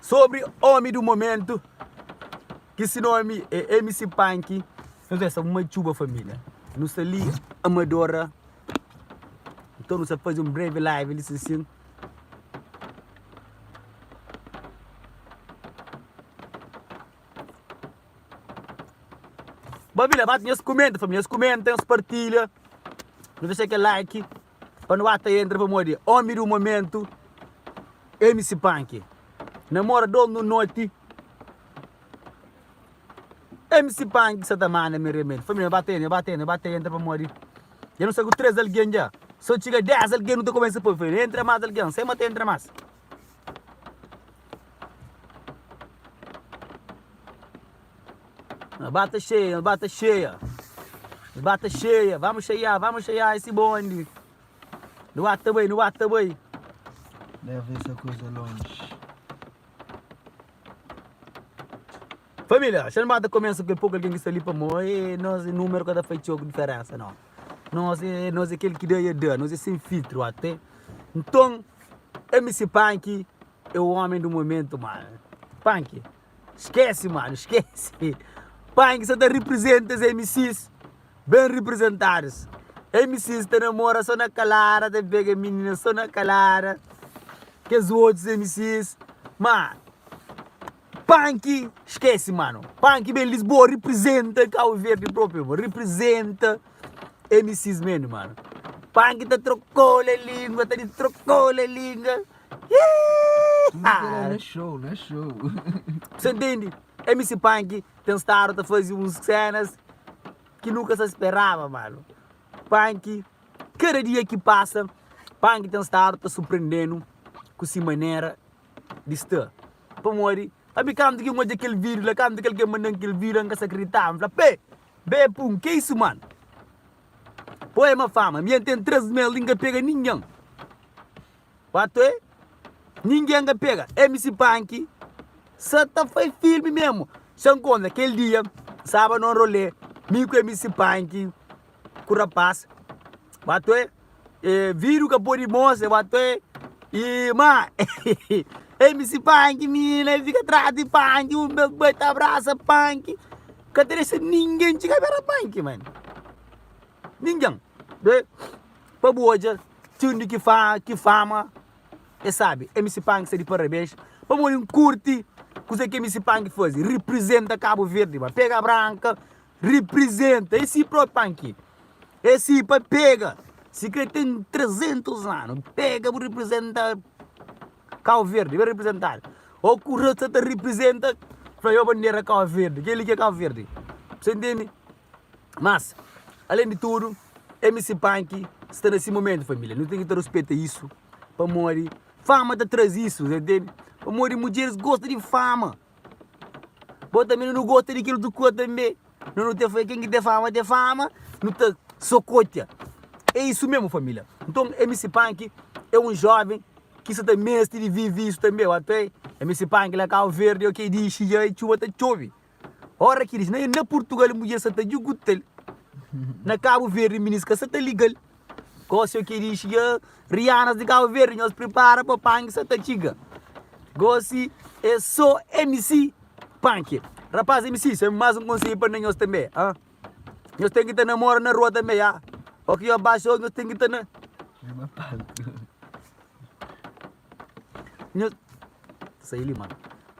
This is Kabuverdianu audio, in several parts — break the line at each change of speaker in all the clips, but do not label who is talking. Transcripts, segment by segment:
Sobri omi du momentu ki si nomi e MC Panky nu festa un matxuba família nu sta li Amadora nton nu sta faze un breve live li sinsin Família bati nhos kumenta família nhos kumenta nhos partilha nu dexa kel like. pa nu ata entra pamodi omi du momentu MC Panky na mora dos nu noti MC Panky sa ta manda mi remedi família nu ba ta entra nu ba ta entra nu ba ta entra pamodi dja nu sta ku 3 algen dja so txiga 10 algen nu ta kumesa poi família nu entra más algen sem ma ta entra más Nos ba ta xeia, nos ba ta xeia Nos ba ta xeia Vamos xeiá, vamos xeiá esse bonde Nu ba ta bai, nu ba ta bai Leva
essa coisa longe
Família, xa nu ba ta kumesa ku kel poku algen ki sta li pamodi e nos e númeru ka ta fai txeu diferénsa non Nos e, nos e kel ki da i a da, nos e sen filtru atê Nton, MC Panky é o ômi du momentu mano Panky. Skese mano skese Panha ki sa ta representa es MCs ben representadas MCs ta namora so na kalada ta pega minina so na kalada Kes otus MCs ma Panki skese mano Panki ben Lisboa representa Cabo Verde proprio bo representa MCs meno mano Panki ta trokola lingua ta trokola lingua.
Na show, na show. Cê
entende? MC Punk ten stado ta faze uns cenas ki nu ka sa speraba, mano. Punk, kada dia ki passa, Punk ten stado ta surprendenu ku si manera di sta. Pamodi, sabe kantu ki N odja kel video la, kantu ki algen manda-m kel video la, N ka sa kriditaba. N fla, Pé! Be Punk, ke isu, mano? Poema Fama, ami N ten três mês li, N ka pega ninhan. Watoe ninguém ka pega MC panki sa ta fai filme mesmo sa nkontra kel dia staba num rolê mi ku MC panki ku rapaz watoe e vídeo ka podi mostra watoe e ma MC panki mi na fika atrás di panki un bes ku bai ta abrasa panki ka ta desa ninguém txiga pera panki mano ninguém pa bu odja. Txundi ki fa ki fama é sabi MC Pank sta di parabéns pamodi N kurti kuzé ki MC Pank faze riprizenta Kabu Verdi ba pega branka riprizenta é si propi Pank é si pa pega si kre ten 300 anu pega bu riprizenta Kabu Verdi ben riprizentadu o ku rasta ta riprizenta fla io bandera Kabu Verdi kel li ki é Kabu Verdi bu sta intende. Mas, alén di tudu, MC Punk sta na si momentu, família. Nu ten ki ta ruspeta isu, pamodi fama ta traze isu, ta intende? Pamodi mudjeris gosta di fama. Bo tanbê nu gosta di kel otu kuza tanbê. Nau nu ta fla ken ki ten fama ten fama, nu ta sokotia. É isu mésmu, família. Nton, MC Punk é un jóven ki sa ta meste di vive isu tanbê, ok? MC Punk la Kau Verdi, ok? Di xixi, txuba ta txove. Ora ki diz, na Purtugal mudjer sa ta djuguta-l, na Kabu Verdi miniska sa ta liga-l. Gósi o ki dixi, Ya rianas di Kabu Verdi, nhos pripara pa panki sa ta txiga. Gósi e so MC panki. Rapaz MC, se más un konsedju pa nhos tanbe, ha. Nhos ten ki ta namora na rua tanbe, ha. O ki nhos baixa o nhos ten ki ta na. Nhos ta sai li mano.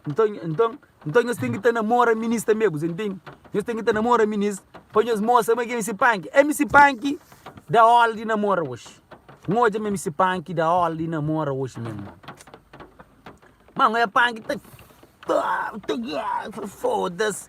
Nton, nton, nton nhos ten ki ta namora minis tanbe, bu ta ntende? Nhos ten ki ta namora minis pa nhos mostra ma ki MC Panki. MC Panki da órdi di namora oji. N odja ma MC Panki da órdi di namora oji meme. Mano, é Panki ta ta ta ta foda-s.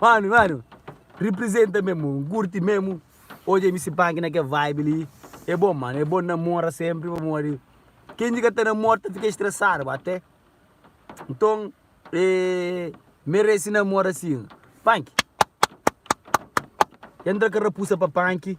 Mano mano representa mesmo un curti mesmo oja mc pank na kel vibe li é bom mano é bom namora sempre pamodi ken di ka ta namora ta fica estressado ba até nton é merece namora assim pank ya entra ka rapusa pa pank.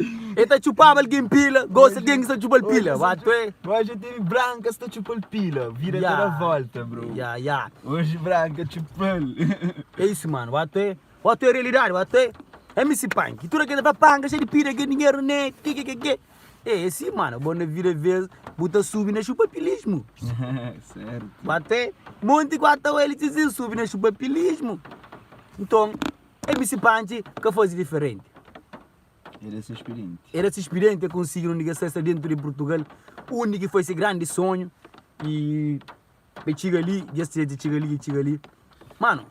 El ta txupaba algen pila Gosi algen ki sa txupal pila Ba tu é Oji tene branka
sta txupal pila Vida ta da volta bro Ya ya Oji
branka
txupal É isu
mano ba tu é Ba tu é realidade ba tu é MC Punk ki tuda keda ta panka xe di pida ke dinheru ne kekekeke É é si mano bo na vida vez bu ta subi na txupa pilismu
Ba tu é
Monti ku Atawelli txi txi subi na txupa pilismu Nton. El misti panci ka fazi diferenti. El é sispidenti. El é sispidenti, é konsigidu undi ki el sta, el sta dentu di Purtugal, undi ki foi se grandi sonhu y dja txiga li, dja sta dja txiga li, dja txiga li. Mano,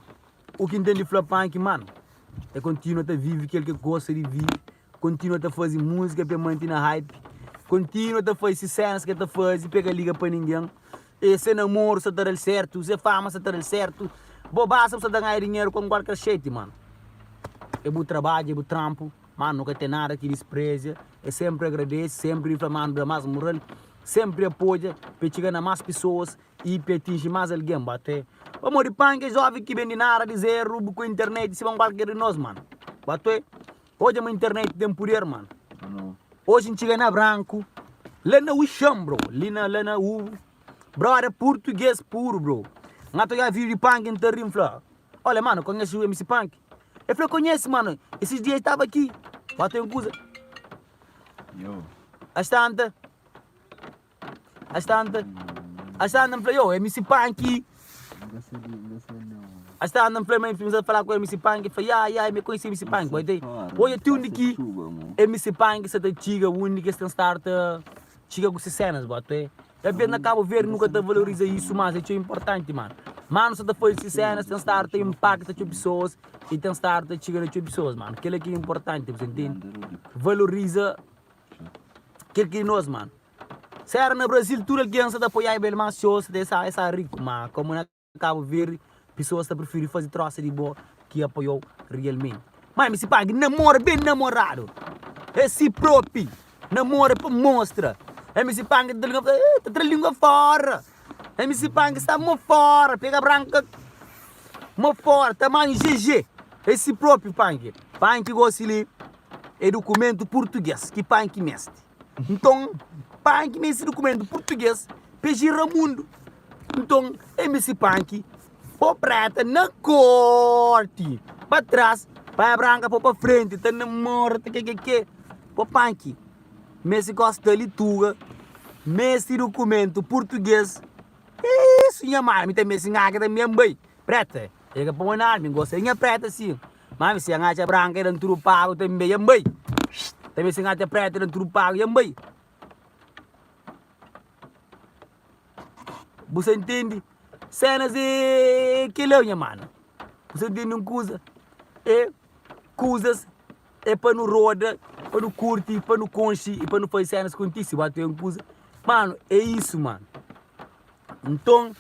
u ki ntende fla panci, mano, el kontinua ta vivi kel ki el gosta di vivi. Kontinua ta faze múzika pa e mante na hype Kontinua ta faze se sénas ki el ta faze pa e ka liga pa ningen E se namoru sa ta da-l sértu Se fama sa ta da-l sértu Bo ba sa bu sa ta ganha dinheru kon kualker xeti Mano, é bu trabadju, é bu tranpu Mano, nu ka ten nada ki disprezia E sénpri agradese, sénpri di fla Mano da más mural Sénpri apodja pa e txiga na más pesoas I pa e atinji más algen Bo ta é pamodi panka, é jóven ki ben di nada, di zeru Bu ku internet, si bon kualker di nos Mano, bo ta é. Odja ma internet tem puder mano. Oji ntxiga na branku la na uxan bro li na la na u broda purtuges puru bro nha ta oiá video di panki nta ri nfla olha mano conhece o mc panki e fla conhece mano esses dias estava aqui ba tem coisa as tanta. As tanta, as tanta n fla, yo, MC Panky. As tanta n fla, ma infim sa fala ku MC Panky, fla, ya, ya, mi konhisi MC Panky, bo ita i? Odja ti undi ki MC Panky sa ta txiga, undi ki es ten star ta txiga ku se senas, bo ata oe. Ka bês na Kabo Verde nu ka ta valoriza isu, mas é txeu inportanti, mano. Mano sa ta faze se senas, ten star ta inpakta txeu pesoas i ten star ta txiga na txeu pesoas, mano. Kela ki é inportanti, bu ta intende? Valoriza Kel ki nos mano. Se era na Brasil tudo alguém sa ta apoiá bel mas se os de sa sa rico ma como na Cabo Verde pessoas ta preferi fazi troça di bo ki apoiá realmente. Mai mi si pague namora bem namorado é si propi namora pa mostra é mi si pague ta linga eh ta tra lingua fora é mi si pague sa mo fora pega branca mo fora tamanho GG é si propi panque panque gosi li. é dukumentu purtuges ki pan ki meste nton pan ki meste dukumentu purtuges pe jirra mundu nton é meste pan ki po preta na korti pa tras pan branka po pa frenti ta na morta ta kekeke po pan ki meste gosta li tuga meste dukumentu purtuges iiiisu nha mame ta meste nha ki ta meste bai preta é ka pa bo nada mi gosta nha preta si. Mame, si N atxa branka, i da-m tudu pagu tanbe, i N bai. Tanbe si N atxa prétu, i da-m tudu pagu, i N bai. Bu sta ntende sénas? E kel-la, nha mano, bu sta ntende un kuza? E kuzas é pa nu roda, pa nu kurti, pa nu konxe i pa nu faze sénas kontise. Bu ata oiba un kuza? Mano, é isu, mano. Nton,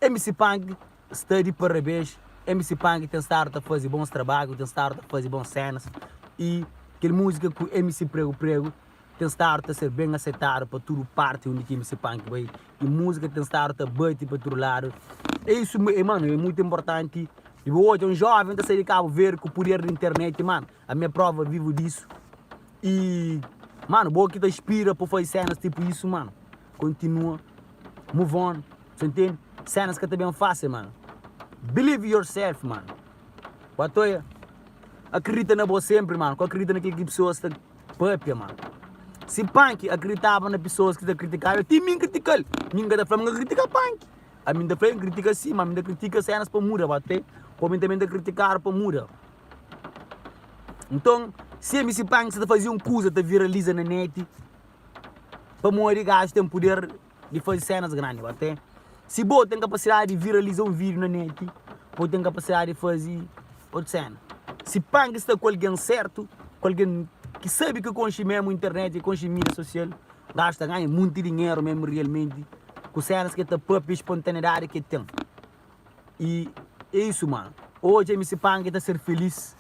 MC Punk sta di parabéns, MC Punk ten stadu ta faze bons trabadju, ten stadu ta faze bons sénas y kel múzika ku MC Pregu Pregu ten stadu ta ser ben asetadu pa tudu párti undi ki MC Punk bai y múzika ten stadu ta bate pa tudu ladu. É isu, mano, é mutu inportanti. Bo odja un jóven ta sai di Kabu Verde ku puder di internet, mano, Ami é prova vivo disso e mano bo ki ta inspira pa faze cenas tipo isso mano continua move on sa intende cenas ka ta ben facil mano believe in yourself mano ba ta oia acredita na bo sempre mano ka acredita na kilo ki pessoas ta papia mano si panki acreditava na pessoas ki ta criticaba ti mi criticale mi ka ta fla ma critica panki ami ta fla critica si ma ami ta critica cenas pa muda ba ta oia como mi ta criticado pa muda. Nton, si MC Panks ta faze un kuza ta viraliza na neti, pamodi gajo ten puder di faze sénas grandi. Ote, si bo ten kapasidadi di viraliza un vídiu na neti, bo ten kapasidadi di faze otu séna. Si Panks sta ku algen sértu, ku algen ki sabe ki konxe mésmu internet, ki konxe mídia sosial, gajo ta ganha monti dinheru mésmu rialmenti ku sénas ki el ta pâpia, spontaneidadi ki el ten. i é isu man odja mi si pangi ta ser filís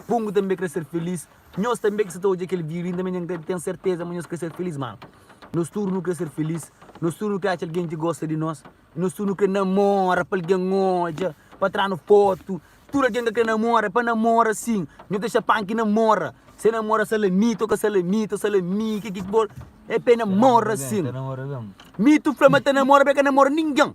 pungu tanbe kre ser filís nhos tanbe ki sa ta odja kel video li tanbe nka ten serteza ma nhos kre ser filís man nos tudu nu kre ser filís nos tudu nu kre atxa algen ki gosta di nos i nos tudu nu kre namora pa algen odja pa tranu fotu tudu algen ka kre namora pa namora sin nho ta dexa panki namora se namora salamita o ka salamita o salami kiki ki bo é pa e namora sin mi tu fla ma ta namora ma e ka namora ningen.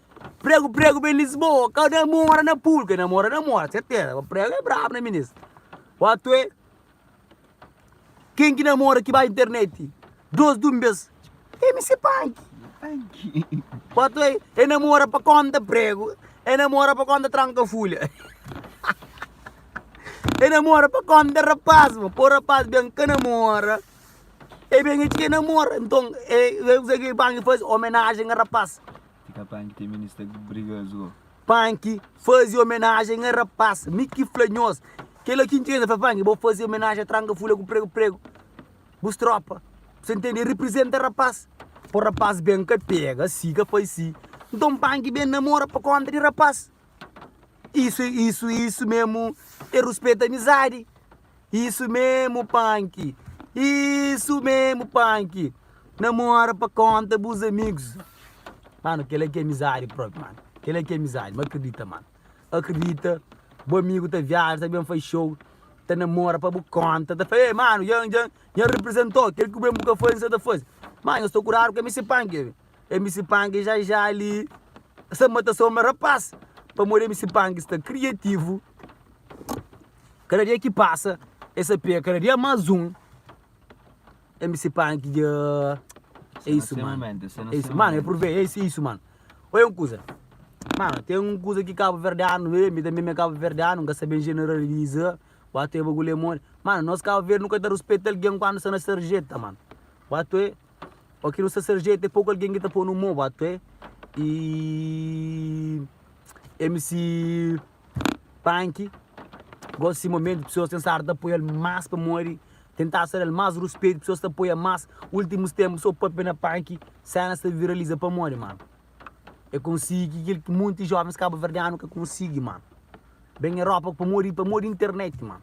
Pregu pregu ben Lisboa ka na mora na pul ke na mora na mora serteza pa pregu é brabu na minis watu é ken ki na mora ki bai interneti dos dun bes é misi panki watu é e na mora pa konta pregu e na mora pa konta tranka fulha e na mora pa konta rapaz ma po rapaz ben ka na mora e ben e txi ke na mora nton e kusa ki panki faze omenajen a rapaz Tika Panki ten medo
di sta briga zo. Panki
faze omenajen a rapaz mi ki fla nhos kela ki ntende fla Panki bo faze omenajen a tranka fula ku pregu pregu bus tropa bus ntende reprizenta rapaz po rapaz ben ka pega si ka faz si nton Panki ben namora pa konta di rapaz isu isu isu mesmo e ruspeta amizadi. Isu memu Panki Isu memu Panki Na mora pa konta bus amigus Mano kela ki amizadi propi mano Kela ki amizadi ma akridita mano Akridita bu amigu ta viaja ta ben faz show Ta na mora pa bu konta Ta fla ê mano nha nha nha representau Kel ki ben bu ka fazi nhos ta fazi Mano nhos ta kuradu ku MC Panki be MC Panki já já li Sa mata sonbra rapaz Pamodi MC Panki sta kriativu. Kada dia ki pasa e sa pega kada dia mas un e mi sipani ki dja e isu mano e isu mano e purvê e isu mano oi un kuza mano ten un kuza ki kabuverdianu e mi tanbe mi e kabuverdianu n ka sabe generaliza watoe bagul e modi mano nos kabuverde nu ka ta ruspeta algen kandu sta na sarjeta mano watoe o ki nu sta sarjeta e poku algen ki ta ponu mo watoe i e mi si Panky gosi si momento pessoas tem stado ta apoial mas pamodi tem stado ta dal mas respeito pessoas ta apoia mas ultimos tempos so papia na Panky cenas ta viraliza pamodi mano e konsigi kil ki monte jovens caboverdiano ka konsigi mano bem Europa pamodi pamodi internet mano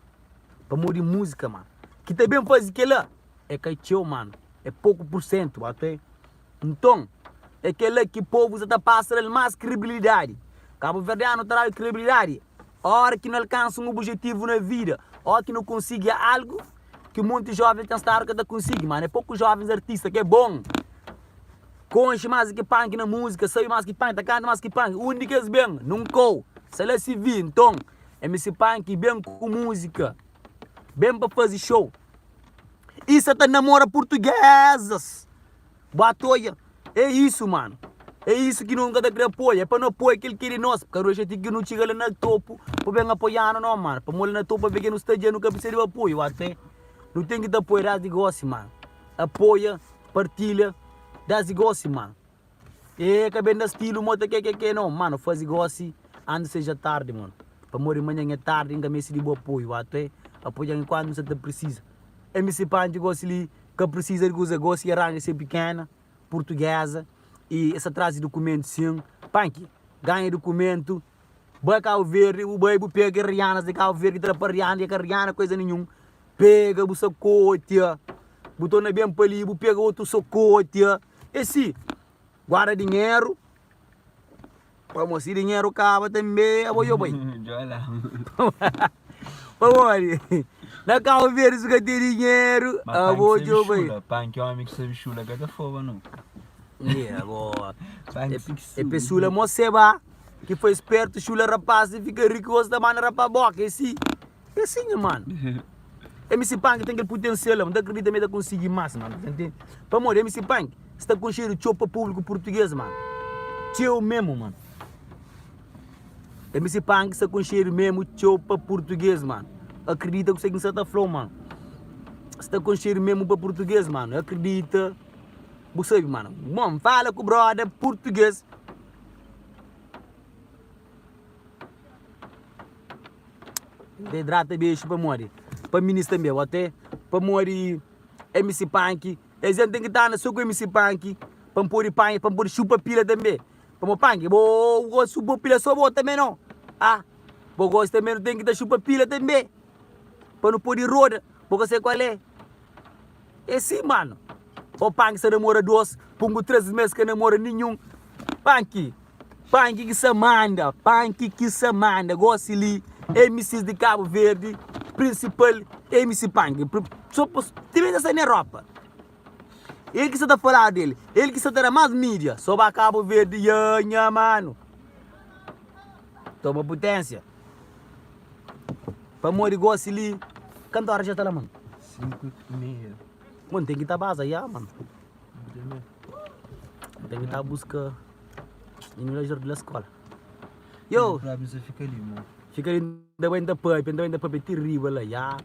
pamodi musica mano ki ta bem fazi kila e ka tcheu mano e pouco por cento até Nton, é kel-la ki povu sta ta pasa-l más kredibilidadi. Kabuverdianu ta da-l kredibilidadi óras ki nu alkansa un obijetivu na vida ô ki nu konsigi algu ki monti jóven pensaba ka ta konsigi. Má na poku jóvens artista ki é bon, konxe más di ki punk na múzika, sabe más ki punk, ta kanta más ki punk. Un di kes ben, nunkau, sa la si vi. Nton, MC Punk ben ku múzika, ben pa faze xou. i sa ta namora purtugesas bo atoia é isu mano é isu ki nos ka ta kre apoia é pa nu apoia kel ki é di nos ka nu dexa ti ki nu txiga la na topu pa ben apoianu no mano pamodi la na topu aveke nu sta dja nu ka prsisa di apoio oa krê nu ten ki ta apoia desdi gosi mano apoia partilha desdi gosi mano. Êê ka ben da stilu mô ta kekeke nau Mano fazi gosi antis seja tardi mano Pamodi manhan é tardi N ka meste di bu apoiu Atu é apoiau enkuantu N sa ta pirsisa MC Panchi gosi li ka pirsisa di kuza Gosi é ranga se pikena purtugeza Y es ta trazi dukumentu sin Panchi ganha dukumentu Bai Kabu Verdi bu bai bu pega kes rianas di Kabu Verdi ki ta da pa riana Y é ka riana kuza ninhun Pega bu sakotia Bu torna ben pa li bu pega otu sakotia. E si guarda dinheru pamó si dinheru kaba tanbê abo djo bai pamodi na kau verdi si ka ten dinheru abo djo bai e pe sula mo seba ki foi spertu sula rapaz si fika riku gosi ta banda rapa boka e si É assim nha mano MC Punk tem aquele potencial Não tá acredita me tá conseguir mais mano Tá entende? Pamodi MC Punk Sta conhecido txeu pa público português mano Txeu mesmo mano MC Punk sta conhecido mesmo txeu pa português mano Acredita kuse ki N sa ta fla-u mano Sta conhecido mesmo pa português mano É acredita Bu sabe mano Bom, fala ku brother português Te hidrata bexu pamodi pa minis tanbe bo te pamodi mc panki es dias n ten ki ta anda so ku mc panki pa n podi panha pa n podi xupa pila tanbe pamo panki bo gosi xupa pila so bo tanbe no ah bo gosi tanbe nu ten ki ta xupa pila tanbe pa nu podi roda bo ka se kual é. É sim mano. Ô Panky sa namora dôs, Pungu três mês ka namora ninhun. Panky, Panky ki sa manda, Panky ki sa manda. Gosi li MCs di Cabo Verde, principal MC Panky. Sô pa tira esa ne ropa. El ki sa ta faladu del, el ki sa ta da más mídia. Sô ba Cabo Verde, yeah nha mano. Toma putensia. Pamodi gosi li. Kantu oras dja ta la mano? 5 y meia.
Mano tem
ki ta baza ya mano. Tem ki ta busca Ini la jordi la escola. Yo! Fika li,
mano. Fika li, nda
bai nda papi, nda bai nda papi ti riba la ya.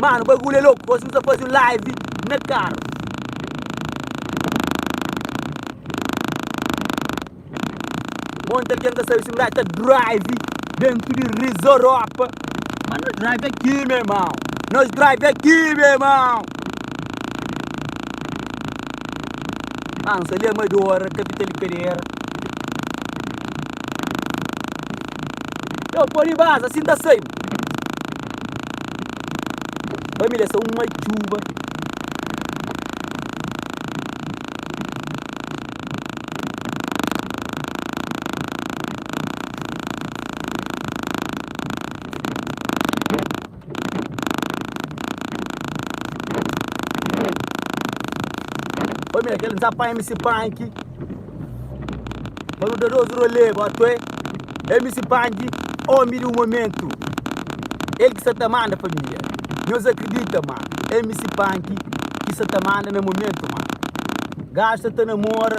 Mano bagulho é louco, gosi mos ta faze um live na carro. Monta quem tá sabe se um gajo tá drive dentro de Rizoropa. Mas nós drive aqui, meu irmão. Nós drive aqui, meu irmão. Ansa li amadora capital di Pereira Io podi baza si n ta sai bu Família sa un matxuba Família, kel Nzapa MC Panki Pa nu da nos rolê bo atu ê MC Panki, omi di momentu El ki sa ta manda família Nhos akridita ma MC Panki Ki sa ta manda na momentu ma Gajus sa ta namora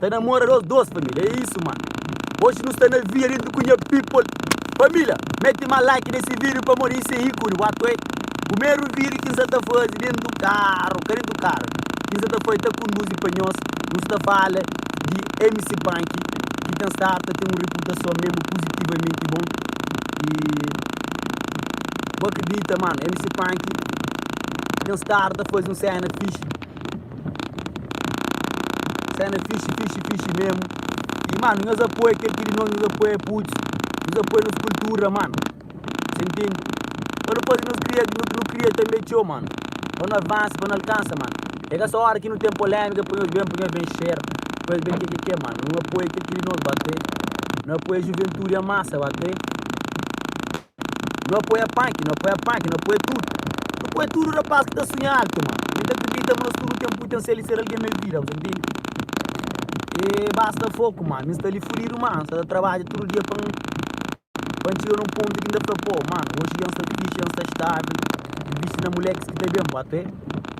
Ta namora dos dos família é isso mano Hoje nu sta na via dentro ku nha people Família mete ma like nesse vídeo pamo ney ser ícone watu é Primeiro vídeo ki n'sa ta faze dentro carro ka dentro carro ki n'sa ta faze ta conduzi pa nhos nu sta fala di MC Punk ki ten stado ta ten um reputação mesmo positivamente bom e bu acredita mano MC Punk ten stado ta faze um cena fixe. Sena fixi, fixi, fixi mesmo E mano, nhos apoia kel ki di nos, nhos apoia putz Nhos apoia nos kultura mano Sa intende? Pa nu faze nos kria, nu nu kria tanbe txeu mano Pa nu avansa, pa nu alkansa mano E ka sa ora ki nu ten polémika pa nhos ben, pa nhos ben xera Pa nhos ben kekeke mano Nu apoia kel ki di nos ba te Nu apoia juventude, a masa ba te. Nu apoia punk, nu apoia punk, nu apoia tudu Nu apoia tudu rapaz ki ta sunha altu ma mi ta kridita ma nos tudu ten putensial di ser algen na vida bu ta ntende E basta foku ma mi sta li fudidu ma N sta ta trabadja tudu dia pa N pa N txiga na un pontu ki N ta fla pô ma oji dja N sta fixe, N sta stabil N bisti na mulekus ki ta ben bo até.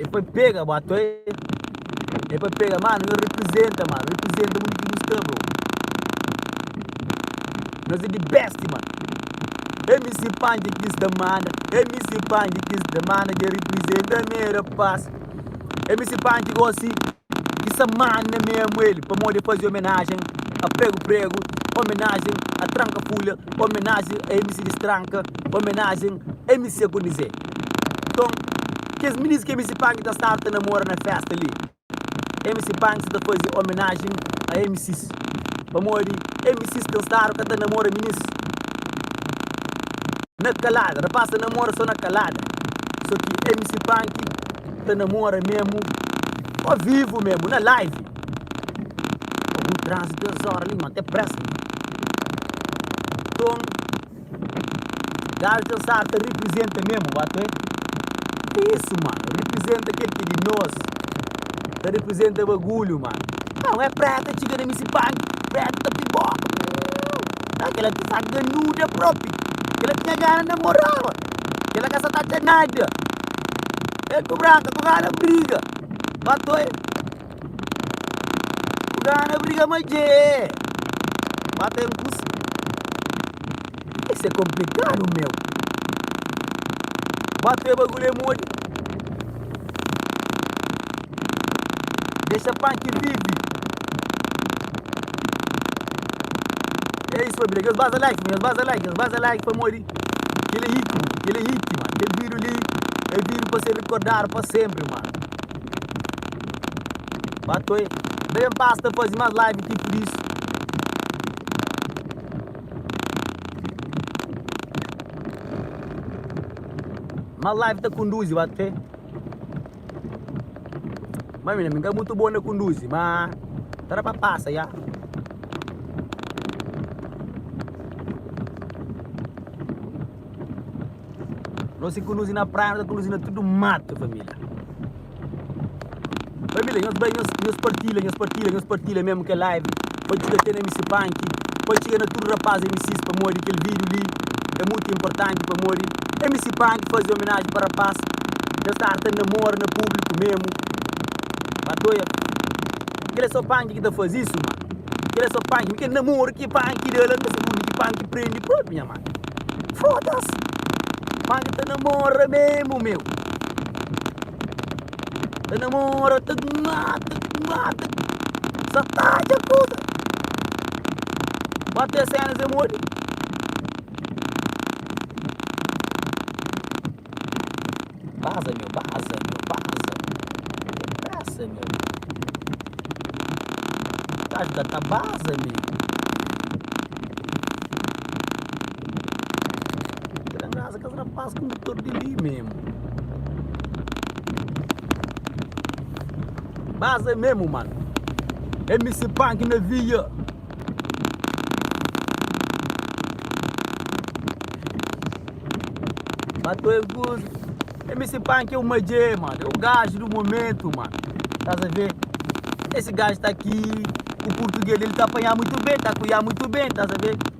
E foi pega boa toi E foi pega mano nho representa mano Representa mundo ki nho sta bro Nós é the best mano MC Pandy kiss da mana MC Pandy kiss da mana Dja representa mera paz MC Pandy gosi di sa manna memu el pamodi el faze omenajen a pregu pregu omenajen a tranka fulha omenajen a mc distranka omenajen mc kondizê nton kes minis ki mc panki ta sarta na mora na festa li mc panki sa ta faze omenajen a mcs pamodi mcs ten stadu ka ta namora minis na kalada rapaz ta namora so na kalada so ki mc panki ta namora mesmo o vivo mesmo na live algum transe duas hora ali ma te presta então galta sa ta representa mesmo ba to é isso mano representa aquele que é de nós ta representa bagulho mano não é preta chega na missa banho preta tá pipoca aquela que sabe ganuda próprio aquela que tinha gana namorava Kela ka sa ta ten nada. El ku Branka ku Rana briga. Matou el. Ku Rana briga ma dje. Mata el ku si. Isso é complicado, meu. Bate o bagulho é molho. Deixa punk vive. É isso, família. Deus vaza like, Deus vaza like, Deus vaza like para morrer. Kel é hit mano, kel é hit mano Kel vídiu li é vídiu pa ser rikordadu pa sénpri mano Ba toi Ba ben pasa ta faze más live ti pur isu Más live ta konduzi ba toi. Má mi mi ka mutu bon na kunduzi, má ta da pa pasa ja. Nos ki kunduzi na praia, nos ta kunduzi na tudu matu, família. Família, nhos bai, nhos partilha, nhos partilha, nhos partilha mesmu k'é live. pa djuda ten mc panki pa txiga na tudu rapaz mcs pamodi kel vídiu li é mutu inportanti pamodi mc panki faze omenaji pa rapaz kel sta arta na mora na públiku memu ba toia kel é so panki ki ta faze isu ma kel é so panki mi kel na mora ki panki dela mi ta sabe undi ki panki prende propi nha mano foda-s panki ta na mora memu meu. Ta namora, ta mata, mata Sa ta dja kuza Ba te sena ze modi Baza meu, baza meu, baza meu Ten pressa meu Gajo ka ta baza meu É kes rapaz kondutor di li memu. Bas é memu mano. MC Panki na via. Bato é good. MC Panki é o majê mano. É o gajo do momento mano. Tás a ver? Esse gajo tá aqui. O português dele tá apanhar muito bem. Tá a cuiar muito bem. Tás a ver?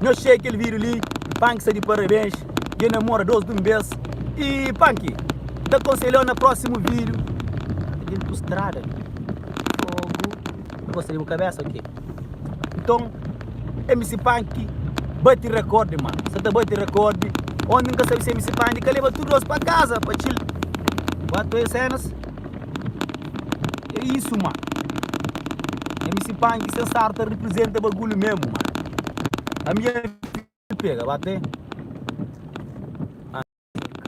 Nhos txê kel vídiu li, N Panki sta di parabéns i el namora dôs di un bês i Panki ta konselha-u na prósimu vídiu. Ata djuntu ku strada li. Fogo. Bu gosta di bu kabésa ok. Nton, MC Panki bate rekórdi mano. Sa ta bate rekórdi. Onti N ka sabe si MC Panki ka leba tudu nos pa kaza pa txil. Bu atuei sénas. É isu ma. MC Panky se star ta representa bagulho mesmo ma. Ambiente pega ba te.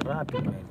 Rápido mesmo.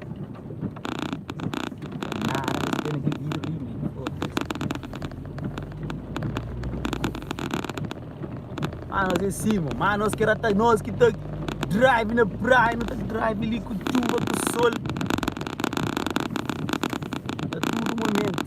Mano nos é si mon, mano nos ki era ta nos ki ta drive na praia nu ta drive li ku txuba ku sol na tudu momentu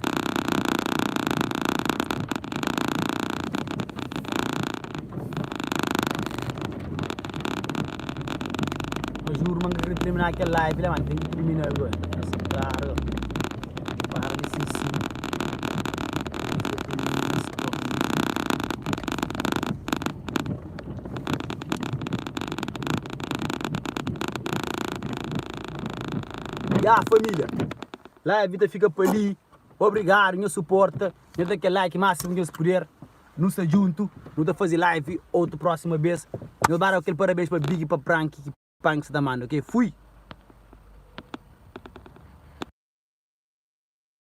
Mas juru man ka kre termina kel live la man Tem ki termina agora Mas claro Para de ser assim Ya família Live ta fika pa li Obrigado nha suporta Nha da kel like máximo ki nhos puder Nu sta djuntu nu ta fazi live otu proxima bes nhos ba da kel parabens pa big pa prank ki prank sa ta manda ok fui.